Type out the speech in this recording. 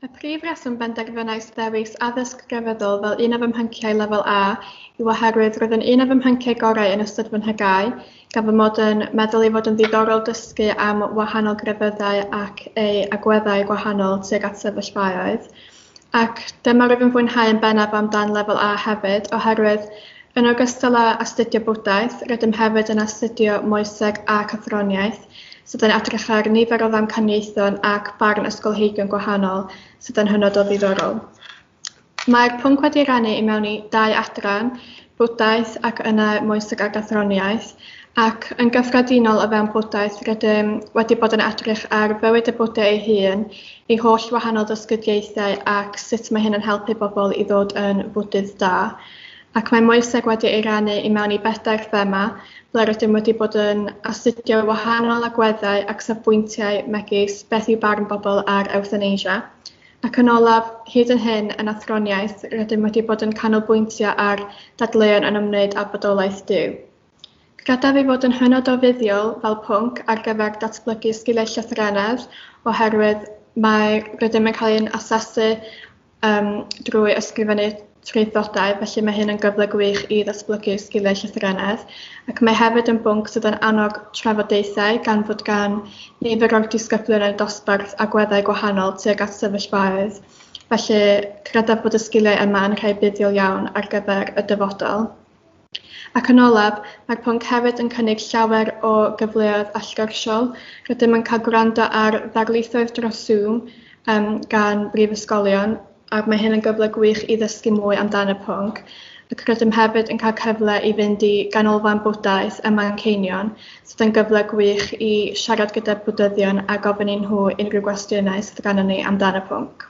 Y prif reswm benderfynais ddewis addysg grefyddol fel un o fy mhyncie Lefel A yw oherwydd roedd yn un o fy mhyncie gorau yn ystod fy nhegau, gan fy mod yn meddwl ei fod yn ddiddorol dysgu am wahanol grefyddau ac eu agweddau gwahanol tuag at sefyllfaoedd. ac dyma rwyf yn fwynhau yn bennaf am dan Lefel A hefyd oherwydd yn ogystal â astudio bwdhaeth rydym hefyd yn astudio moeseg ac athroniaeth sydd yn edrych ar nifer o ddamcaniaethon ac barn ysgolheigion gwahanol sydd yn hynod o ddiddorol. Mae'r pwnc wedi ei rannu i mewn i dau adran bwdhaeth ac yna moeseg a gathroniaeth, ac yn gyffredinol o fewn bwdhaeth rydym wedi bod yn edrych ar fywyd y Bwdha ei hun, ei holl wahanol ddysgyddiaethau ac sut mae hyn yn helpu bobl i ddod yn fwdydd da. Ac mae moeseg wedi ei rannu i mewn i bedair thema ble rydym wedi bod yn astudio wahanol agweddau ac safbwyntiau megis beth yw barn bobl ar ewthanasia, Ac yn olaf, hyd yn hyn, yn athroniaeth, rydym wedi bod yn canolbwyntio ar ddadleuon yn ymwneud â bodolaeth Duw. Credaf ei fod yn hynod o fuddiol fel pwnc ar gyfer datblygu sgiliau llythrennedd oherwydd mae rydym yn cael ein asesu um, drwy ysgrifennu traethodau, felly mae hyn yn gyfle gwych i ddatblygu sgiliau llythrennedd ac mae hefyd yn bwnc sydd yn annog trafodaethau gan fod gan nifer o'r disgyblion eu dosbarth agweddau gwahanol tuag at sefyllfaoedd, felly credaf bod y sgiliau yma yn rhai buddiol iawn ar gyfer y dyfodol. Ac yn olaf, mae'r pwnc hefyd yn cynnig llawer o gyfleoedd allgyrsiol. Rydym yn cael gwrando ar ddarlithoedd dros Zoom um, gan brifysgolion, ac mae hyn yn gyfle gwych i ddysgu mwy amdano y pwnc. Ac rydym hefyd yn cael cyfle i fynd i Ganolfan Bwdhaeth ym Manceinion, sydd yn gyfle gwych i siarad gyda Bwdhyddion a gofyn i nhw unrhyw gwestiynau sydd ganddyn ni amdano y pwnc.